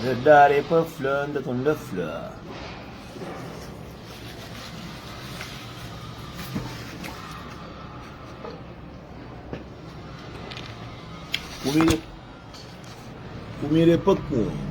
Verdade é pa fla n ta konda fla. Kumida kumida é pa kome.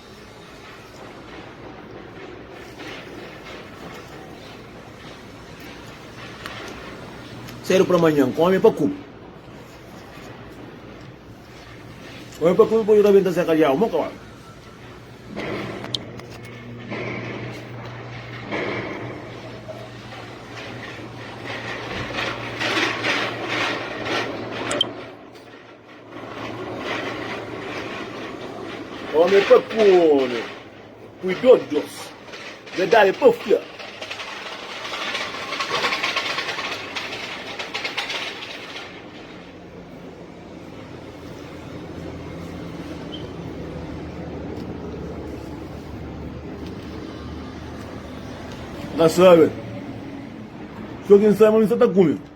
Sedu pra manhan, kome pa ku. Kome pa ku, pode rabenta se kalhau, mo kau. Ome pa ku ome, pui dos dos, verdade pa fla. Nós sabe, só quem sabe, mas não está comigo.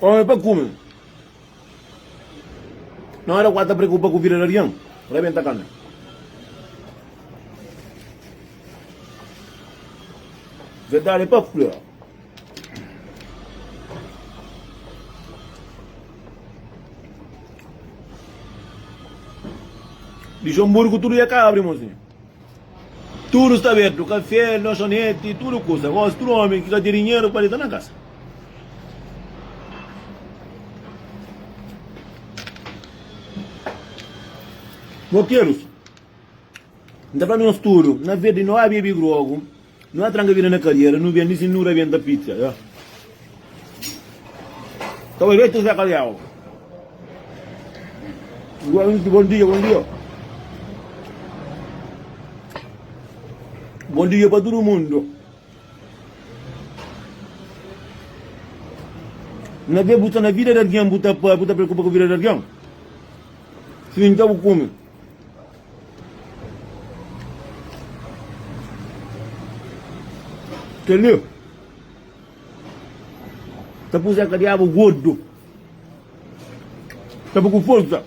Ora pa kume. Na ora ku a ta preokupa ku vida di algin, rebenta kame. Verdade pa fla, Luxemburgo tudo ia ka abri mozinho. Tudu sta abertu, kafé, lanchonete, tudu kusa. Gosi tudu omi ki ka ten dinheru pa dita na kasa. Rokerus, N ta fla nos tudu, na verdi no abi e bi grogu, Nu atranka vida na kadiera nu bendi si nu rabenta pizza ya ta bai betu zé kaliau bom dia bom dia bom dia pa tudo mundo na vê bu sta na vida de alguém bu ta bu ta preocupa ku vida de alguém si nta bu kume Kel-li ta kuze ka Diabu Gordu ta bai ku forsa.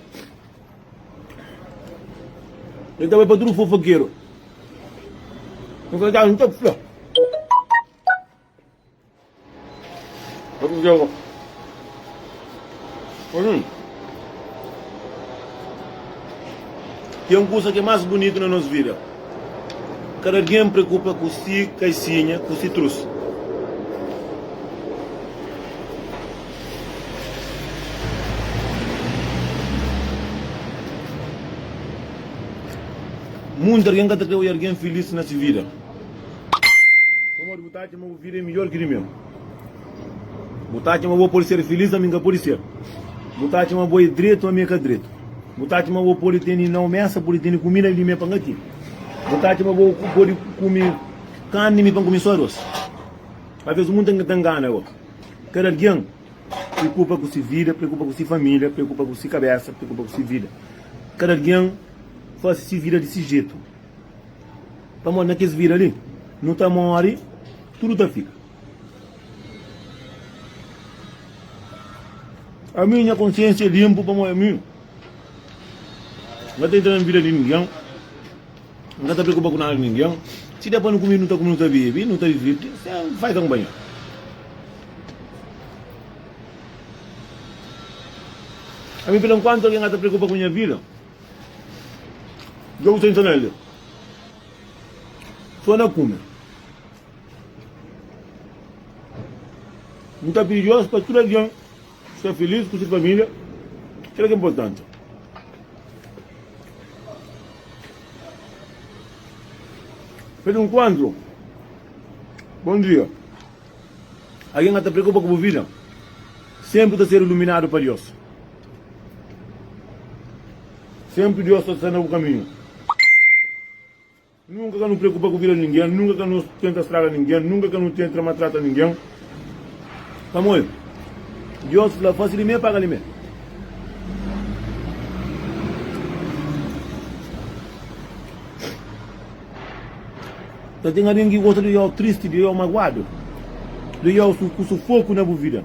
El ta bai pa tudu fofokeru. Vamos ver. Hum. Tem coisa que é mais bonita na nossa vida. Cada alguém preocupa com si, caixinha, com si trouxe. Muita alguém que está querendo alguém feliz na sua vida. Pamodi bu ta atxa ma bu vida é midjór ki di meu. Bu ta atxa ma bo pode ser filís, ma mi N ka pode ser. Bu ta atxa ma bo é dretu, ma mi N ka dretu. Bu ta atxa ma bo pode tene na omesa, pode tene kumida li, mi pa N ka tene. Bu ta atxa ma bo pode kume karni, mi pa N kume sô arôs. Alvês munta N ka ta ngana bo. Kada algen preokupa ku si vida, preokupa ku si família, preokupa ku si kabésa, preokupa ku si vida. Kada algen fase si vida di si jetu. Pamodi na kes vida li, nu ta móre, tudu ta fika. Ami nha konsiénsia é linpu pamodi ami N ka ta entra na vida di ningen, N ka ta preokupa ku nada di ningen. Si da pa nu kume, nu ta kume, nu ta bebe, nu ta divirti sen fai kanpanha. Ami fla, Nkuantu algen ka ta preokupa ku nha vida, Dja bu tenta na li. Só na kume. Nu ta pidi Deus pa tudu algen sta filís ku se família, kel ki inportanti. Feliz Encontro! Bom dia! Algen ka ta preokupa ku bu vida senpri ta ser iluminadu pa Deus. Senpri Deus ta sta na bu kaminhu. Nunka ka nu preokupa ku vida di ningen, nunka ka nu tenta straga ningen, nunka ka nu tentra matrata ningen. Pamodi Deus fla, Fasi di me, paga di me. Ka ten algen ki gosta di odja-u tristi, di odja-u maguadu, di odja-u ku sufoku na bu vida.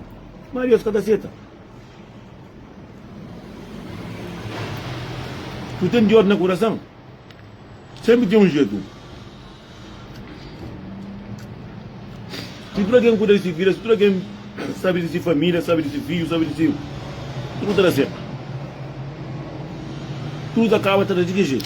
Má Deus ka ta seta. Nu ten di ódi na kurason. Sénpri ten un jetu si tudu algen kuida di se vida, si tudu algen sabe di se família, sabe di se fidju, sabe di se. Tudu ta da sértu. Tudu ta kaba, ta da di ki jetu?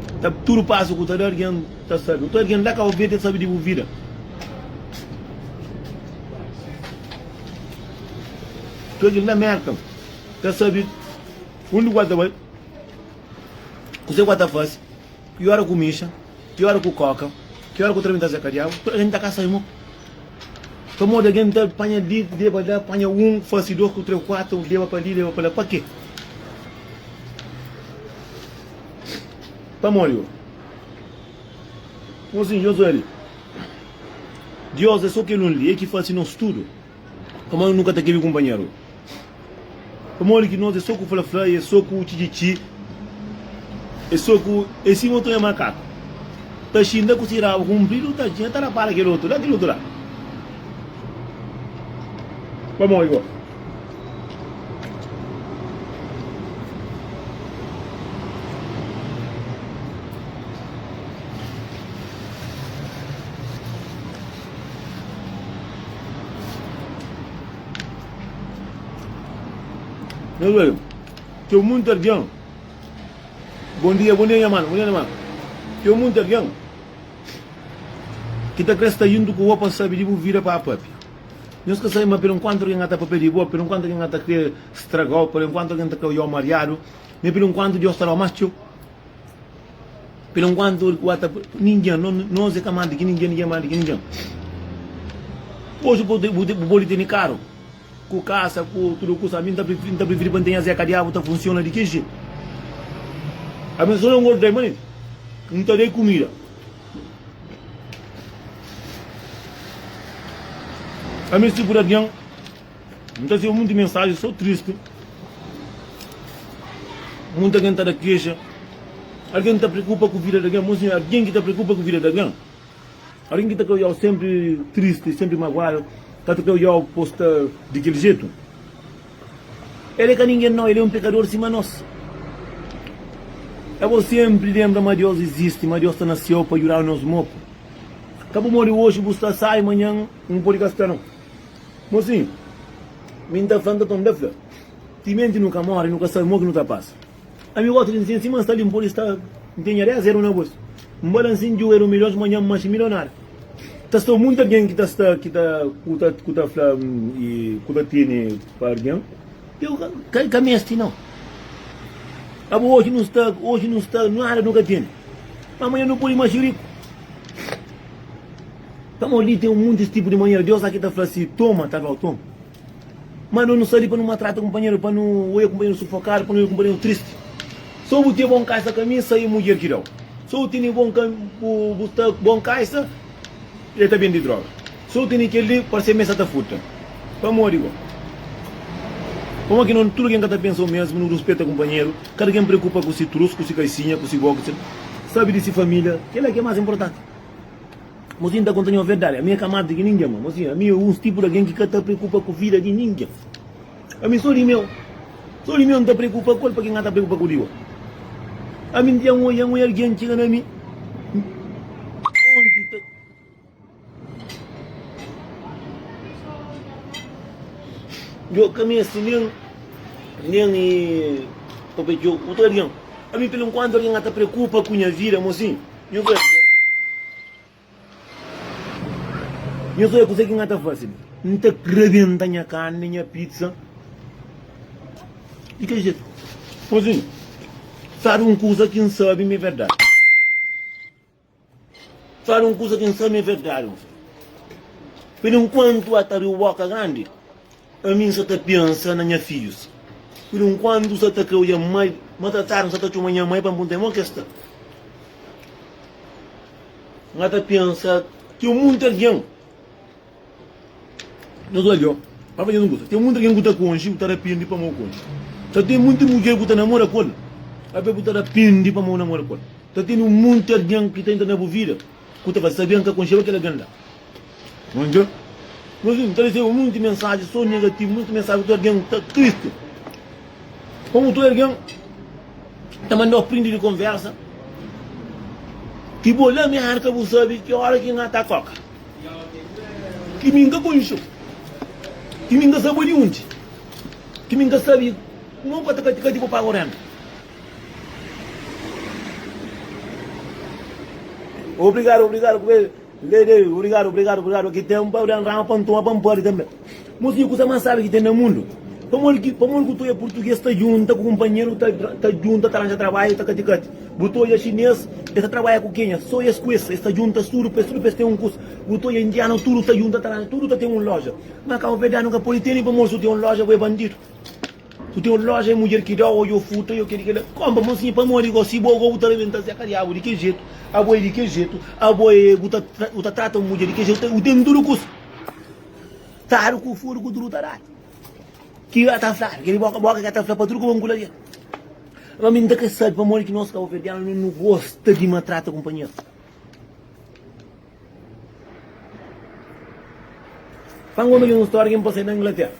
ta tudo passo cu ta da alguém ta sabe então alguém da cabo verde sabe de bu vida então alguém da América ta sabe onde qual ta vai o que qual ta faz que hora cu mixa que hora cu coca que hora cu trem ta ser cadeado então alguém ta cá sabe mo pa modo alguém ta panha de deba da panha um face dois cu três quatro deba pa li deba pa la pa quê Pamodi ô? Ô sin Josué li. Diós é sô kel un li, el ki fase nos tudu. Pamodi nu ka ta kebe kunpanheru ô? Pamodi ki nos é sô ku fla-fla y é sô ku txi-txi-txi, é sô ku é sima un txonha makaku ta xinta ku si rabu kunpridu ta txinta ta rapara kel otu la, kel otu la. Pamodi ô? Nhos odja, txeu munti algen Bon dia, bon dia nha mana, bon dia nha mana Txeu munti algen Ki ta kre sta juntu ku bo pa sabe di bu vida pa papia. Nhos ka sabe ma perenkuantu algen ka ta papia di bo, perenkuantu algen ka ta kre straga-u, perenkuantu algen ta kre oja-u mariadu, ma é perenkuantu Deus ta da-u más txeu? Perenkuantu el ki ua ta. Ningen, nos é ka más di ki ningen, ningen é más di ki ningen. Oji bu pode, bu pode tene karu, ku kasa, ku tudu kusa. Ami N ta prifiri, N ta prifiri pa N ten azé kadiadu ta funsiona di ki jetu. Ami sô na N gostei ma N ta da-i kumida. A mi tipo de alguém Não tá sendo muito mensagem, sou triste Muita gente tá da queixa Alguém tá preocupa com a vida de alguém Mozinho, alguém que tá preocupa com a vida de alguém Alguém que tá com eu sempre triste, sempre magoado Tá com eu posta daquele jeito El é ka ningen nau, el é un pekador sima nos. É bo senpri lenbra ma Deus izisti, ma Deus sta na Séu pa djuda-nu nos moku. Ka bu modi oji, bu sta sai, manhan N nu pode ka sta nau. Mosinhu, mi N ta fla, N ta toma. El fla, Timenti nu ka móre, nu ka sabe mo ki nu ta pasa. Ami gosta di nsin sima nsta li npodi sta ntenha 10 euro na bolsu nba la nsin dju euro milhons manhan nma si milionáriu ta sta munti algen ki ta sta ki ta ku ta fla ku ta tene pa algen eu ka mesti nau abo oji nu sta oji nu sta nada nu ka tene ma manhan nu podi masi riku pamodi li ten muntis tipu di manhera Deus la ki ta fla si toma ta flau toma. Má nu nu sta li pa nu maltrata kunpanheru, pa nu odja kunpanheru sufokadu, pa nu odja kunpanheru tristi. Sô bu tinha bon kaxa ka mi, sai mudjer ki da-u. Sô bu tene bon ka, bu bu sta bon kaxa, el ta bende droga. Sô bu tene kel li, parse mê sa ta furta. Pamodi bo? Pamodi ki no tudu algen ka ta pensa o mesmu, nu ruspeta kunpanheru, kada algen preokupa ku si trus, ku si kaxinha, ku si boxer, sabe di si família, kel-la ki é más inportanti. Mozinha ta konta-nu un verdadi, ami é ka más di ki ningen. Má, mozinha, ami é uns tipu di algen ki ka ta preokupa ku vida di ningen. Ami sô di meu. Sô di meu N ta preokupa ku el, pake N ka ta preokupa ku di otu? Ami N diâ un algen, un algen txiga na mi onti ta. Djo ka meste nen, nen i papia djo otu algen. Ami, pelenkuantu, algen ka ta preokupa ku nha vida, mozinha. Nhu krê kuzê? Nhu krê kuzê ki nha ta fase li? N ta rebenta nha karni, nha pitsa di kel jetu. Mozinhu, sabe un kuza ki N sabe ma é verdadi? Sabe un kuza ki N sabe ma é verdadi, mozinhu? Perenkuantu, ata riu Boka Grandi Ami N sa ta pensa na nha fidjus Ku di un kuandu sa ta ka odja mai Ma ta tardi N sa ta txoma nha mai pa N punta-i mo ki es sta N ka ta pensa Ten munti algen Na nos aldeon Ba fadje nos gosta Ten munti algen ku ta konxe Bu ta rapindi pamó bu konxe Ta ten munti mudjer ku ta namora ku el Pabia bu ta rapindi pamó bu namora ku el Ta tene munti algen ki ta entra na bu vida. Ku ta fla, Sabia N ka konxeba kel algen la. N odja nos viu, N ta resebe monti mensaji so negativu, monti mensaji ku tudu algen ta tristi. Komu tudu algen ta mandau prindi di konversa ki bo la mi N ka bu sabe ki ora ki N na ta koka, ki mi N ka konxu, ki mi N ka sabe bo di undi, ki mi N ka sabe ki mau ka ta kati-kati bo pa agu renda. Obrigado, obrigado, porque Lady, obrigado, obrigado, obrigado. Aqui tem um pau de rama para tomar para pode também. Mas que coisa mais sabe que tem no mundo? Pamol que pamol que tu é português tá junta com companheiro tá tá junta tá arranja trabalho tá cati cati. Botou é chinês, ele trabalha com quem? Só esse com esse, está junta tudo, para tudo para ter um curso. Botou é indiano tudo tá junta tá tudo tá tem uma loja. Mas Cabo Verdeano nunca pode ter nem pamol se tem uma loja vai bandido. Ku teu loja é mudjer ki dau odja o futa yo keri kela konpa mosinha pamodi go si bo go bu ta rebenta zé kariabu di ke jetu abo é di ke jetu abo é bu ta bu ta trata un mudjer di ke jetu u tene tudu kusa tadu ku fodu ku tudu ta dadu ki a ta fladu keri boka boka ki a ta fla pa tudu ku ba nkula kel ma mi n ta ke sabi pamodi ki nos ka ofendianu no nu gosta di matrata kunpanheru. Fla un omi di un stória ki N pasei na Inglatéra.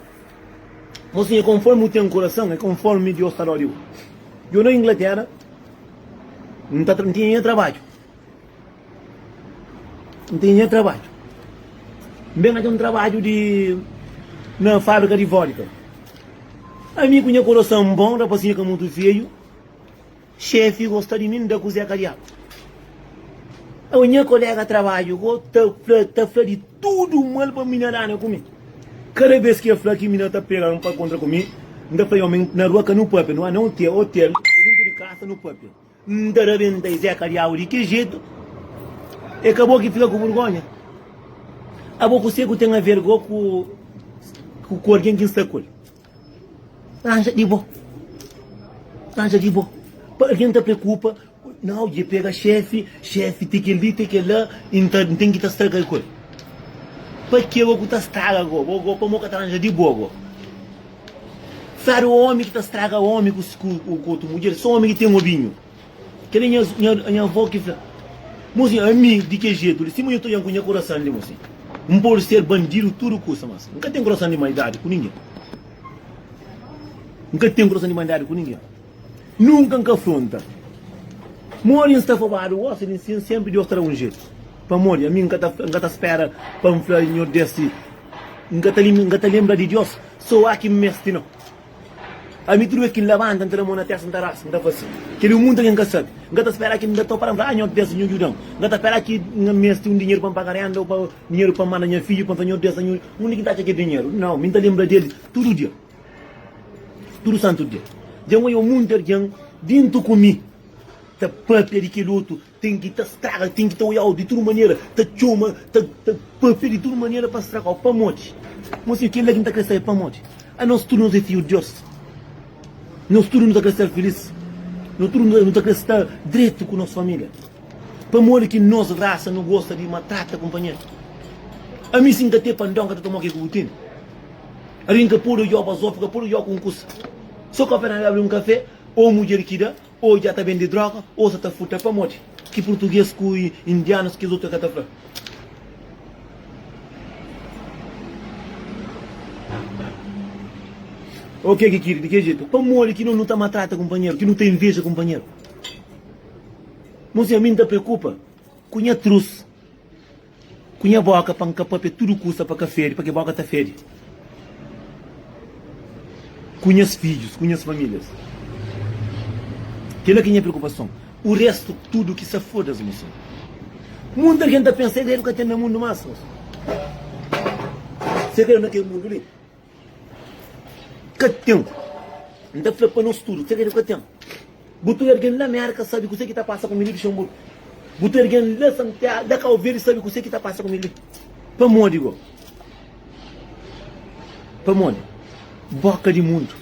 Mosinha, konformi bu ten kurason, é konformi Deus ta da di bu. Djobe na Inglatéra, N ta, N tinha nha trabadju. N tinha nha trabadju. N ben atxa un trabadju di, na fábrika di vódika. Ami ku nha kurason bon, rapazinhu ka mutu feiu, Xefi gosta di mi, N da kuzé kariadu Awe nha kolega trabadju go ta fla Ta fla di tudu mal pa mi N arana ku mi Kada bes ki el fla ki mi na ta pega N pa kontra ku mi N ta fla omi na rua ka nu papia Nu a na otel, otel o dintu di kasa nu papia N ta rabenta izé kariau di ke jetu E ka bo ki fika ku burgonha Abo kuzê ku ten aver go ku ku algen ki N sta ku el. Anja di bo. Anja di bo. Pa algen ta preokupa, nau dje pega xefe, xefe te kel li, te kel la, e n ta, n ten ki ta straga el ku el. Pa ke bo ku ta straga go? Bo go pamo ka ta anja di bo go. Sabe omi ki ta straga omi ku, ku, ku otu mudjer? So omi ki ten obinhu. Kel-li é nha avó ki fla. Mosi, ami di kel jetu li, sima nhu ta odian ku nha kurasan li, mosi. N pode ser bandidu tudu kusa, mas N ka ten kurasan di maldadi ku ningen. N ka ten kurasan di maldadi ku ningen. Nunka N ka fronta. Modi N sta fobadu gosi di nsin, sénpri Deus ta da un jetu. Pamodi ami N ka ta spera pa N fla nhordesti, N ka ta lenbra di Deus, so aki N meste. Nau! Ami tudu bes ki N labanta, N ta da mon na testa, N ta rasa, N ta fla si, Kel-li é un mundu ki N ka sabe. N ka ta spera ki N da ta para, N fla, Ah, Nhor Deus, nhu djuda-m. N ka ta spera ki N meste un dinheru pa N paga rénda ô pa dinheru pa N manda nha fidju, pa N fla, Nhor Deus, nhu undi ki N ta atxa kel dinheru? Nau, mi N ta lenbra di el tudu dia, tudu santu dia. Dja N odja munti algen, djuntu ku mi, ta pâpia di kel otu Ten ki ta straga, ten ki ta oiau di tudu manera, ta txoma, ta ta pâpia di tudu manera pa stragau. Pamodi? Mon senhu, kel-la ki N ta krê sabe, pamodi anos tudu nos é fidju di Deus? Nos tudu nu ta krê ser filís? Nos tudu nu ta nu ta krê sta dretu ku nos família? Pamodi ki nos rasa nu gosta di maltrata kunpanheru? Ami, si N ka ten pandon, N ka ta toma ke ku bu tene. Algen ka pode oiau bazófia, ka pode oiau ku un kusa. Sô kapé na Bíblia un kafé ô un mudjer ki da. Ô dja ta bende droga ô sa ta furta. Pamodi ki purtuges ku indianus kes otu é ka ta fla? Ô ke ki kiri di ke jetu? Pamodi ki no nu ta matrata kunpanheru, ki nu ta inveja kunpanheru? Mosé, mi n ta preokupa ku nha trus. Ku nha boka pa N ka papia tudu kusa pa ka fede, pake bo ka ta fede ku nhas fidjus, ku nhas familias. Kela ki nha preokupason, u restu tudu ki sa fodas moson. Mundu algen ta pensa, el debe ka ten na mundu mas moson. Sê ka el na kel mundu li. Ka ten. N ta fla pa nos tudu, txeu des ka ten. Bu tudu algen la Mérka sabe kuzê ki ta pasa ku mi li, Luxemburgu. Bu tudu algen la Santiagu, la Kabu Verdi sabe kuzê ki ta pasa ku mi li. Pamodi bo? Pamodi bo ka di mundu.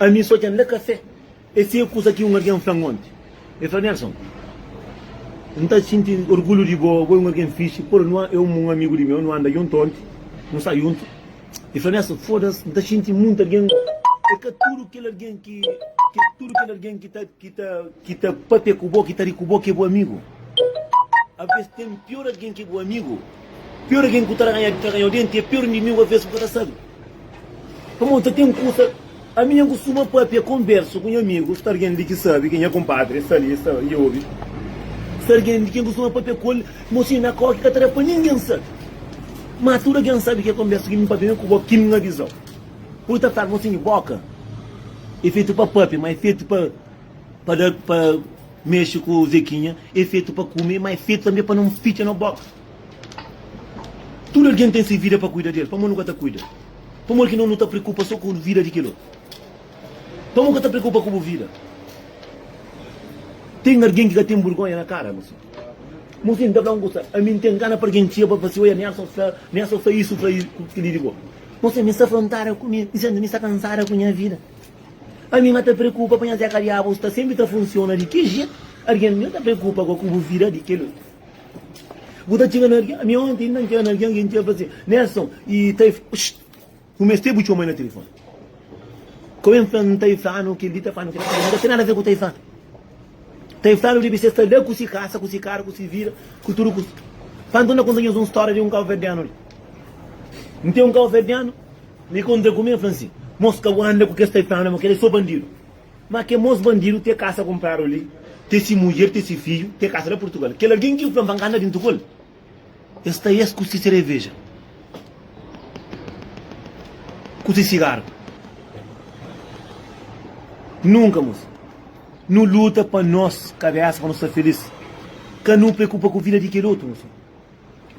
Ami sô dja N la kafé. Es siga kusa ki un algen fla-m onti. El fla, Nelson, N ta xinti orgulhu di bo, bo é un algen fixi. Pô-l, nu é un amigu di meu, nu anda djuntu onti, nu sta djuntu. El fla, Nelson, foda-s, N ta xinti monti algen. É ka tudu kel algen ki tudu kel algen ki ta ki ta ki ta pâpia ku bo, ki ta ri ku bo ki é bo amigu. Alvês ten pior algen ki é bo amigu. Pior algen ku ta da nha ta ganhau denti é pior inimigu aves ku ka ta sabe. Pamodi nta ten kusa ami nha kustuma papia konversu ku nha amigu sta algen li ki sabe ki nha konpadri sta li sta i obi. Sta algen li ki kustuma papia ku el mo si na koki ka ta da pa ningen sabe. Ma tudu algen sabe ki konversu ki mi papia mi ku bo ki mi avizau. Pudi ta fla mo si boka e fetu pa papia ma e fetu pa pa da pa. Mexe ku zekinha é fetu pa kume ma é fetu tanbe pa nu nfitxa no boka tudu algen ten si vida pa kuida del pamó nu ka ta kuida pamó ki no nu ta prekupa so ku vida di kel otu pamó ka ta prekupa ku bu vida ten algen ki ka ten burgonha na kara mosé mosé nta fla un kusa ami nten gana pa algen txia pa fla si oia nelson fla nelson fla isu fla isu ku kili di bo mosé mi sta frontara ku mi mi sta kansada ku nha vida. Ami ma ta preokupa pa nhas eka diabos ta senpri ta funsiona di ki jetu argen mi ta preokupa go ku bu vida di kel bu ta txiga na argen ami onti inda ntxiga na argen ki ntxiga fasi nelson i ta i ku meste bu txomai na telefoni ko ben fla nta i flanu kel li ta flanu kel li nta ten nada ver ku ta i flanu ta i flanu dibi se sta la ku si kasa ku si karu ku si vida ku tudu ku si pa nton na konta nhos un storia di un kauverdianu li nte un kauverdianu Mi konta ku mi, el fla si, Mos ka bu anda ku kes taiflanu ma kel-li é sô bandidu. Má kel mos bandidu ten kasa kunpradu li, ten si mudjer, ten si fidju, ten kasa la Purtugal. Kel algen ki bu fla ma N ka anda djuntu ku el, el sta es ku si sereveja, ku si sigaru. Nunka, mos. Nu luta pa nos kabésa, pa nu sta filís. Ka nu preokupa ku vida di kel otu, nu.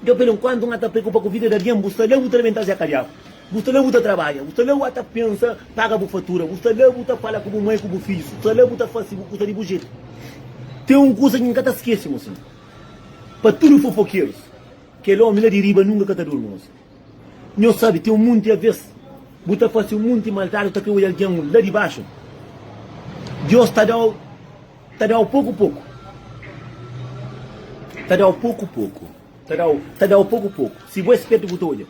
Nton, pelu nkuantu, N ata preokupa ku vida di algen. Bu sta la, bu ta labenta Zé Kadiabu. Bu sta la, bu ta trabadja. Bu sta la, bu ata pensa paga bu fatura. Bu sta la, bu ta fala ku bu mai, ku bu fidjus. Bu sta la, bu ta fase bu kusa di bu jetu. Ten un kusa ki N ka ta skese, mosinhu. Pa tudu fofokerus, kel omi la di riba nunka ka ta durmi, mosinhu. Nho sabe tem um monte avês bu ta face um monte maldade bu ta crê oja alguém la di baxo Deus ta dau ta dau poco poco ta dau poco poco ta dau ta dau poco poco si bu é spérto bu ta oja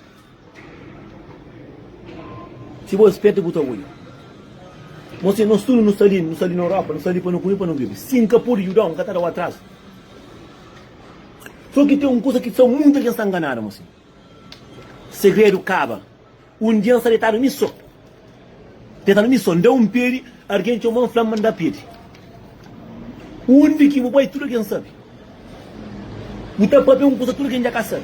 si bu é spérto bu ta oja mo se nos tudo nos ta li nos ta li na Europa nos ta li pa no come pa no bebe si nka pode judau nka ta dau atraso so ki tem um coisa ki só muita gente ta enganado mo se Segredu kaba un dia N sta detadu mi so Detadu mi so N da un pedi Argen txoma N fla-m ma N da pedi Undi ki bu bai tudu algen sabe Bu ta papia un kusa tudu algen dja ka sabe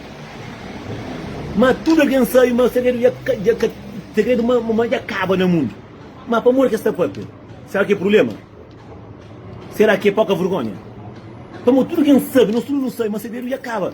Ma tudu algen sabe ma segredu dja dja ka Segredu ma ma dja kaba na mundu Ma pamodi ki es ta papia? Sera ki é prubléma? Sera ki é poka vergónha? Pamodi tudu algen sabe, nos tudu nu sabe ma segredu dja kaba.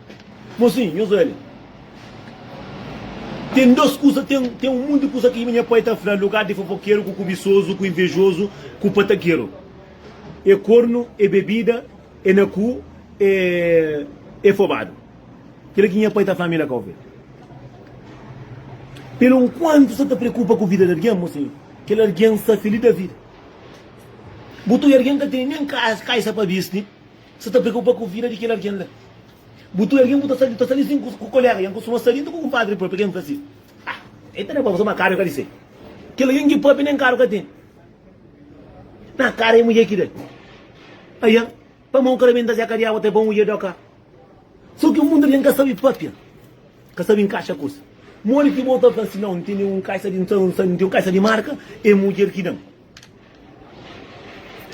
Mosin, nhos oja li. Ten dôs kuza, ten un monti kuza ki nha pai ta fla, lugar di fofokeru, ku kubisozu, ku invejozu, ku patakeru. É kornu, é bebida, é na ku, é, é fobadu. Kila ki nha pai ta fla mi la ka ovi. Pero nkuantu sa ta preokupa ku vida di algen, mosin, kel algen sta feli da vida. Bu ta oja algen ka tene nen kaixa pa bisti. Sa ta preokupa ku vida di kel algen la. Bu txu algen bu ta sali, ta sali sin ku koléga i N kustuma sali inda ku kunpadri própi, algen fla si, Ah, el ta da pa bo, sô ma karu el ka di sai. Kel algen ki pâpia nen karu ka ten, na kara é mudjer ki da. Ayan, pa ma un kara benta zé ka di awa, ta é pa un mudjer da-u ka. Sô ki mundu algen ka sabe pâpia, ka sabe inkaxa kuzê. Modi ki bo ta fla si, Nau, N tene un kaixa di nsan, nsan, N ten un kaixa di marka, é mudjer ki da-m.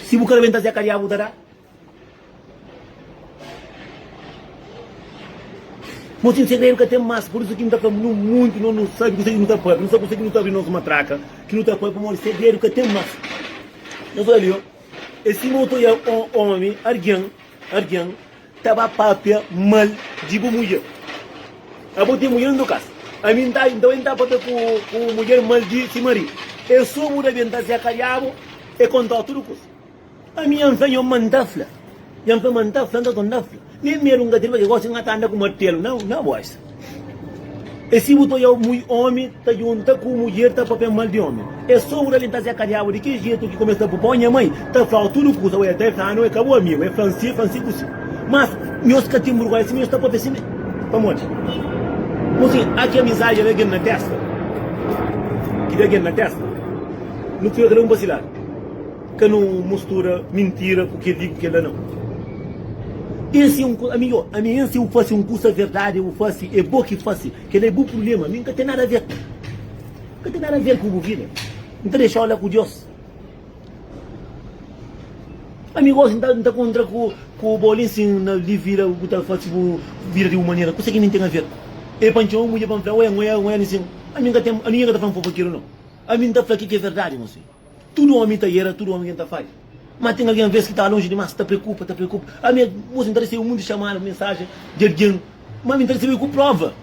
Si bu ka rebenta zé kariá bu ta dá? Bo tin segredu ka ten más pur isu ki nu ta fla nu munti nos nu sabi kuzê ki nu ta pâpia nu sabi kuzê ki nu ta abri nos matraka ki nu ta pâpia pamodi segredu ka ten más nhos ola li ô ê sima ô ta odiaba un omi argen argen Ta ba papia mal di bu mudjer. Abo ten mudjer no kas. Ami N ta, nton N ta papia ku ku mudjer mal di si maridu. E subu da ben ta zeka diabu, e kontau tudu kusa. Ami N fla nhon ma N ta fla. Nhon fla ma N ta fla, nton N ta fla. Nen medu N ka ten, pabia gosi N ka ta anda ku martelu na na boxa. E si bu ta oiau mui omi ta junta ku mudjer ta papia mal di omi e so ura li nta seca diabu di ki jetu ki kumesa bu pau nha mai ta flau tudu kusa ue ta e flanu e ka bu amigu e flan si e flan si ku si mas nhos ka tin burgoi si nhos ta papia si pamodi bu si a ki amizadi ave gen na testa ki da gen na testa nu fika kada un pa si ladu. Ka nu mustura mintira ku kel li ku kel la nau. Ês é un kusa, ami ô, ami ês eu fase un kusa verdade eu fase é bo ki fase, kel la é bu prublema, ami nka ten nada ver, nka ten nada ver ku bu vida, nta dexau la ku Dios. Ami gosi nta nta kontra ku ku bo li nsin na li vida bu ta fase bu vida di bu manera, kusa ki ami nten aver. E pa ntxeu un mudjer pa nfla, ué, ngoia, ngoia li nsin, ami nka ten, ami nka ta fla un fofokeru nau, ami nta fla ki ki é verdade, mosi. Tudu ómi ta era, tudu algen ta fadja. Má ten algen vês ki ta lonji dimás, ta preokupa, ta preokupa. Ami é bos, N ta resebe monti txamada, mensajen di algen, má mi N ta resebe ku próva,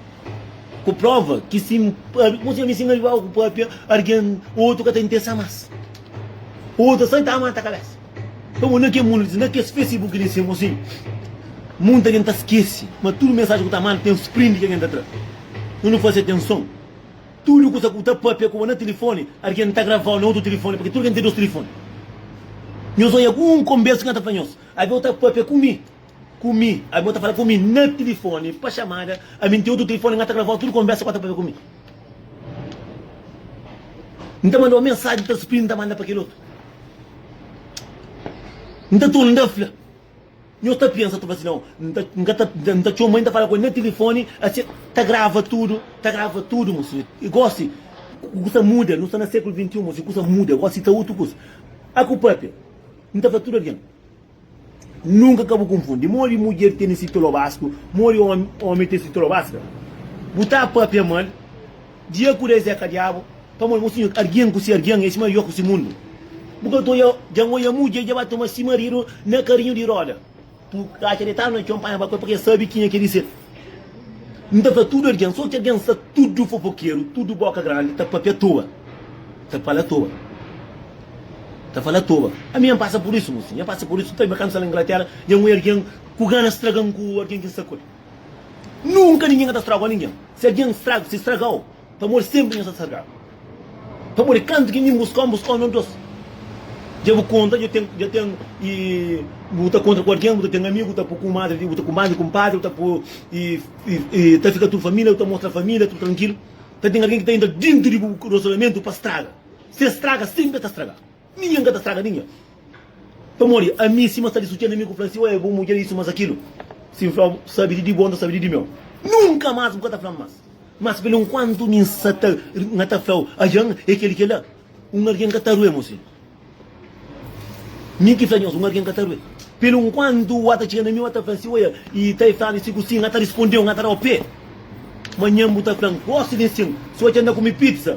ku próva ki si N konxe ami si N ariba ku pâpia, algen otu ka ta interesa más. Otu ta sai ta mata kabésa. Nton, bo na kel mundu di na kes Facebook di sima si, monti algen ta skese ma tudu mensajen ku ta manda ten sprint ki algen ta tra. N faze atenson. Tudu kusa ku ta papia ku bo na tilifoni, algen ta gravau na otu tilifoni, purki tudu algen ten dos tilifoni. Nhos oja ku un konbersa ki N ta fla nhos, Abi bo ta papia ku mi, ku mi, abi bo ta fala ku mi na tilifoni pa xamada, ami N ten otu tilifoni, N ta gravau tudu konbersa ku N ta papia ku mi. N ta mandau mensaji, N ta spri, N ta manda pa kel otu. N ta torna fla. Nho ta pensa ta fala si N ka ta N ta txoma el N ta fala ku el na tilifoni asi el ta grava tudu ta grava tudu mo si i gosi kusa muda nu sta na sekulu XXI mo si kusa muda gosi ta otu kusa a ku papia N ta fala tudu algen nunka ka bu konfundi modi mudjer tene si tolobaska modi omi omi ten si tolobaska bu ta papia mal. Dja ku des é ka diabu pamó di mosinhu argin ku si argin é sima yo ku si mundu bu ka ta dja un oja mudje dja ba toma si maridu na karinhu di roda bu ka atxa detadu na txon panha ba koi pake sabi kinha ke di ser n ta fla tudu argin so ki argin sa tudu fofokeru tudu boka grandi ta papia toa ta fala toa ta fala toa ami nha pasa pur isu mosinhu nha pasa pur isu ta ben kantu sta la inglatera dja un oja argin ku gana straga-m ku argin ki n sta koi. Nunka ningen ka ta strago ningen. Si algen strago, si stragau, pamodi senpri nha sta stragadu. Pamodi kantu ki mi N buskau, N buskau nos dos. Dja bu konta, dja ten, dja ten i bu ta kontra ku algen, bu ta ten amigu, bu ta pui kumadri di bu, bu ta kumadri kunpadri, bu ta pui i i ta fika tudu família, bu ta mostra família tudu trankilu. Ka ten algen ki ta entra dintu di bu relasionamentu pa straga. Si es straga, senpri es ta straga. Ninhen ka ta straga ninhen pamodi ami. Sima sta di sutxia na mi ku fla si, Oi, bu mudjer isu, mas akilu. Si N fla bu, Sabi di di bo, N ta sabi di di meu. Nunka mas bu ka ta fla-m mas. Mas pelu nkuantu mi N sa ta ri, N ta fla-u, Ajan é kel i kel la. Un argen ka ta rue, mosinhu. Mi ki fla nhos, un argen ka ta rue. Pelu nkuantu ua ta txiga na mi, ua ta fla-m si, Oia, i ta e fla-mi si ku sin. N ata rispondeu, N ata da-u pé. Manhan bu ta fla-m, Gosi di nsin, si ua dja nda kumi pizza.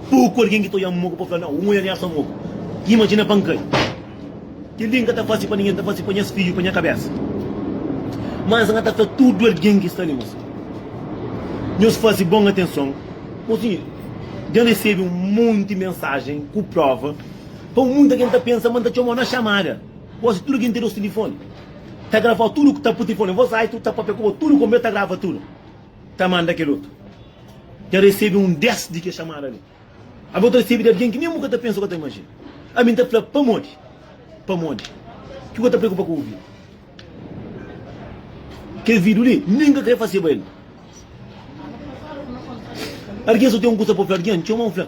Pô ku algen ki ta oiá-m moku pa fla, Nau, un oiá-l nhasa moku. Imajina pa N kai. Kel-li N ka ta fase pa ningen, N ta fase pa nhas fidju, pa nha kabésa. Má N ta fla tudu algen ki sta li, Mosi, nhos faze bon atenson. Mosi, dja N resebe un monti mensajen ku próva. Pau, monti algen ta pensa ma N ta txoma-u na xamada. Gósi, tudu algen ten nos tilifoni, ta grava-u tudu ku ta pa tilifoni. Vos ai, tudu ta pâpia ku bo, tudu ku bo, ma el ta grava tudu. ta manda kel otu ta resebe un dés di kes xamada li. Abo ta resebe di algen ki nen bu ka ta pensa ô ka ta imajina. Ami N ta fla, Pamodi? Pamodi? Ki bu ka ta preokupa ku ouvir? Kes vídiu li nen ka krê faseba el. Algen so ten un kusa pa fla algen, N txoma-u, N fla.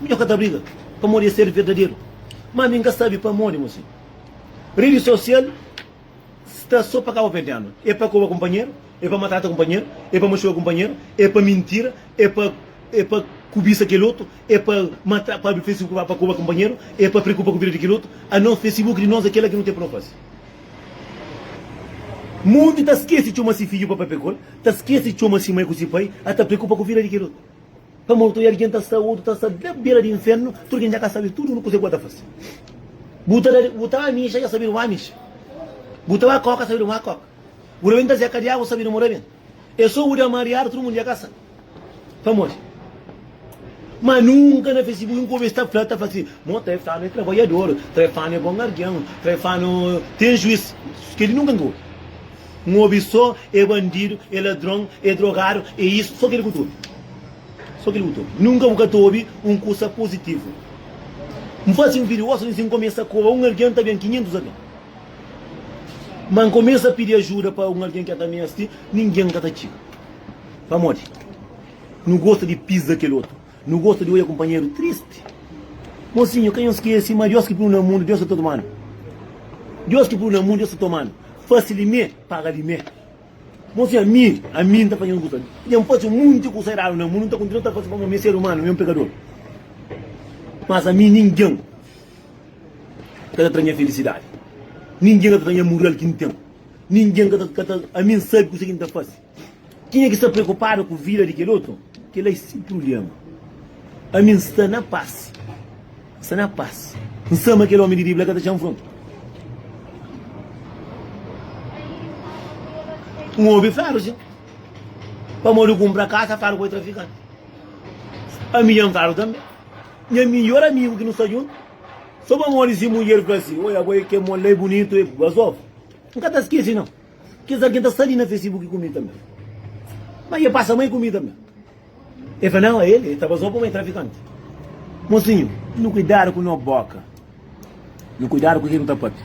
Mi nho ka ta briga pamodi es ser verdaderu ma mi nka sabi pamodi mo si redi sosial sta so pa kaba perdenu e pa koba kunpanheru e pa matrata kunpanheru e pa maxuka kunpanheru e pa mintira e pa e pa kubisa kel otu e pa matra pa abri facebook pa pa koba kunpanheru e pa preokupa ku vida di kel otu a nos facebook di nos a kela ki nu ten pa nu fasi mundu ta skesi txoma si fidju pa papekol ta skesi txoma si mai ku si pai a ta preokupa ku vida di kel otu. Ta mortu e algen ta sta otu ta sta la bera di infernu tudu gen dja ka sabe tudu kuzê ku el ta fase bu ta da bu ta ba mixa dja sabedu ma mixa bu ta ba koka sabedu ma koka bu ta ben ta zeka diagu sabedu mu ta ben e so bu dja mariadu tudu mundu dja ka sa pamodi ma nunka na fesi bu un kobes ta fla ta fla si mo trefanu e trabadjadoru trefanu e bon algen trefanu ten juiz keli nunka nka obi N obi so e bandidu, e ladron, e drogadu, e isu. So keli ku ta obi. So keli ku ta obi. Nunka bu ka ta obi un kusa puzitivu. N fasi un video osi si N kumesa koba un algen ta ben 500 algen. Ma N kumesa pidi ajuda pa un algen ki el ta mesti, ningen ka ta txiga. Pamodi? Nu gosta di pisa kel otu. Nu gosta di odja kunpanheru tristi. Mosinhu, ka nhos skese ma Deus ki plu-nu na mundu, Deus ta toma-nu. Deus ki plu-nu na mundu, Deus ta toma-nu. Fase limé, paga limé. Mosinhu, ami, ami N ta fla nhos kusa. Dja N fase monti kusa eradu na mundu, N ta kontinua ta fase pamodi mi é ser umanu, mi é un pekador. Mas ami ningen ka ta tra nha felisidadi, ningen ka ta tra nha mural ki N ten, ningen ka ta, ka ta. Ami N sabe kusa ki N ta fase. Kenha ki sta preokupadu ku vida di kelotu, kela e si prubléma. Ami N sta na pas, N sta na pas. N sa ma kel ómi di Bíblia ka ta txan fronta. N obi fladu si, pamodi ku N bra kasa fladu ku e trafikanti. Ami dja N fladu tanbe. Nha midjór amigu ki nu sta djuntu, so pamodi si mudjer fla si, Oja bo, e ke mol la e bunitu, e gostozu. N ka ta skese nau. Kes algen ta sta li na Facebook ku mi tanbe. Má e pasa mai ku mi tanbe. E fla, Nau, el e ta bazoba pamodi é trafikanti. Mosinhu, nu kuidadu ku no bóka. Nu kuidadu ku ke ki nu ta pâpia.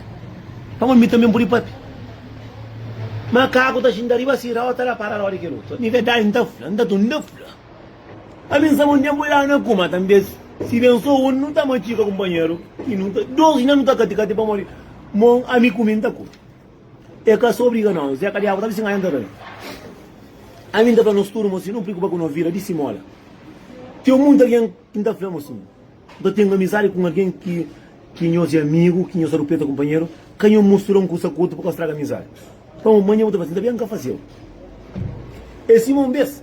Pamodi mi tanbe N pode pâpia. Makaku ta xinta riba sirau, ta da parada ódi ki el uza. Mi verdadi N ta fla, N ta tun ta fla. Pa mi N saba un ténpu i da na kuma tanbe. Si ben so un, nu ta matxika kunpanheru i nu ta. Dos na nu ta kati-kati pamodi mon ami ku mi N ta kuma. E ka sta obriga nos. E ka diabu ta bisinga entra rei. Ami nta fla nos tudu ma si no prikupa ku no vida di simola. Ten munti algen ki nta fla ma si no ta ten amizadi ku un algen ki ki nos e amigu, ki nos ta rupeta kunpanheru, ka no mustura un kusa ku otu pa ka straga amizadi. Pamodi manha bu ta fla si nta ben ka fasiu. E sima un bes.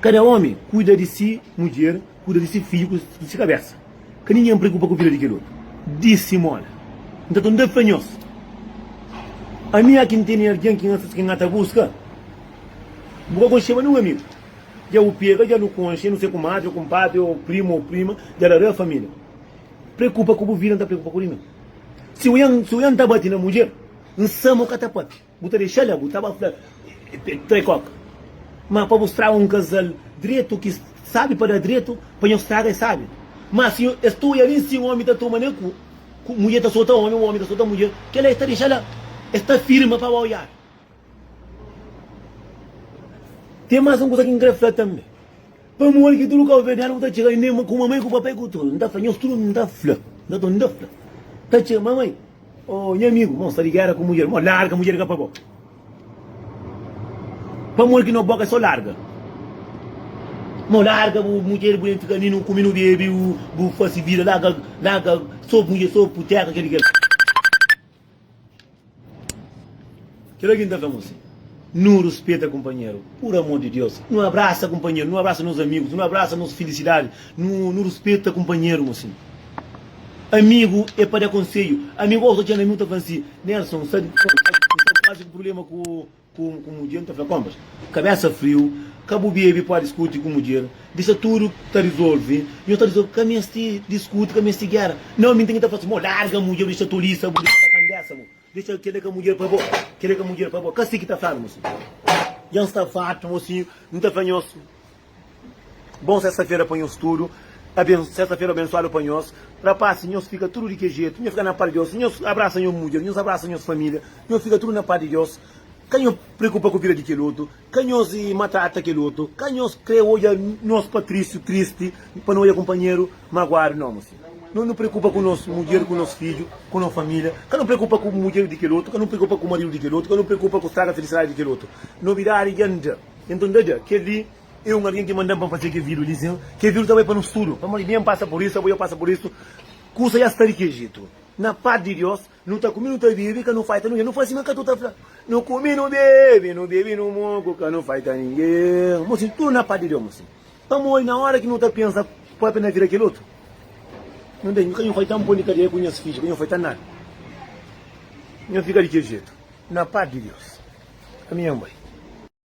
Kada ómi kuida di se mudjer, kuida di se fidju ku di se kabésa. Ka ningen preokupa ku vida di kel otu. Dise moda, N ta tenta fla nhos, ami é ki N tene algen ki N ka ta buska. Bu ka konxeba nen un amigu, dja bu pega dja nu konxe, nu ser kumadri ô kunpadri ô primu ô prima dja la da família. Preokupa ku bu vida, N ta preokupa ku di mi. Si ojan ta bati na mudjer, N sama o ka ta papia. Bu ta dexa la, bu ta ba fla, Trai koka. Má pa bu straga un kazal dretu, ki sábi pa da dretu, pa nhos straga es sábi. Má si es ta oja li nsin, ómi ta toma ne ku, ku mudjer ta sota ómi, ómi ta sota mudjer, kela es ta dexa la, es ta firma pa ba oiadu. Ten más un kuza ki N krê fla tanbê. Pamodi ki tudu kalverdianu ku ta txiga li, ku mamai, ku papai, ku tudu, N ta fla nhos tudu, N ta fla, N ta fla, ta txiga, Mamai, Ô nha amigu, ma N sta di géra ku mudjer, ma larga mudjer ka pa bo. Pamodi ki no boka é sô larga? Ma larga bu mudjer, bu ben fika ami, nu kume, nu bebe, bu fase vida, larga, larga, sô mudjer, sô putéka, kel-li, kel-li. Kel algen ta fla N si, Nu rispeta kunpanheru. Pur amor di Deus, nu abrasa kunpanheru, nu abrasa nos amigus, nu abrasa nos filisidadi, nu nu rispeta kunpanheru N si, Amigu é pa da konsedju, amigu Ô, txeu amigu ta fla-m si, Nelson, N sta di bons, N sta di bons, N sta ku prubléma ku ku mudjer, N ta fla, Konbas, kabésa friu, ka bu bebe pua diskuti ku mudjer, disa tudu ta rizolve, nhos ta rizolve, ka meste diskuti, ka meste géra, nau mi N ten ki ta fla si, Mo, larga mudjer, bu disa tolisa, bu disa bakandésa, bu. Dexa-l kel-la ka mudjer pa bo, kel-la ka mudjer pa bo. Ka si ki ta fla-nu, mosinhu. Dja N sta fartu, mosinhu. N ta fla nhos, Bon sesta-fera pa nhos tudu. Aben, sesta-fera abensuadu pa nhos. Rapasi, nhos fika tudu di kel jetu. Nhos fika na pá di Deus. Nhos abrasa nhos mudjer. Nhos abrasa nhos família. Nhos fika tudu na pá di Deus. Ka nhos preokupa ku vida di kel otu. Ka nhos matrata kel otu. Ka nhos kre odja nhos patrisu tristi pa no odja kunpanheru maguadu. No, mô senhor. No no preokupa ku nos mudjer, ku nos fidju, ku no familia. Ka no preokupa ku mudjer di kel otu, ka no preokupa ku maridu di kel otu, ka no preokupa ku straga felisidadi di kel otu. Nobidadi dja nda. Enton nda dja. Kel-li e un algen ki manda-m pa N fase kel vidu li, sin. Kel vidu ta bai pa nos tudu. Pamodi mi e N pasa pur isu, abo dja pasa pur isu. Kusa dja sta di kel jetu. Na pas di Dios, Nu ta kume nu ta bebe ka nu faita ninguen nu fla sima ka tu ta fla nu kume nu bebe nu bebe nu moku ka nu faita ninguen mo sin tudu na pa di deus mo sin pamodi na ora ki nu ta pensa papia na vida kel otu nu nde ka nu faita npon di kadeia ku nhas fidju ka nu faita nada nha fika di kel jetu na pa di deus ami nha nbai.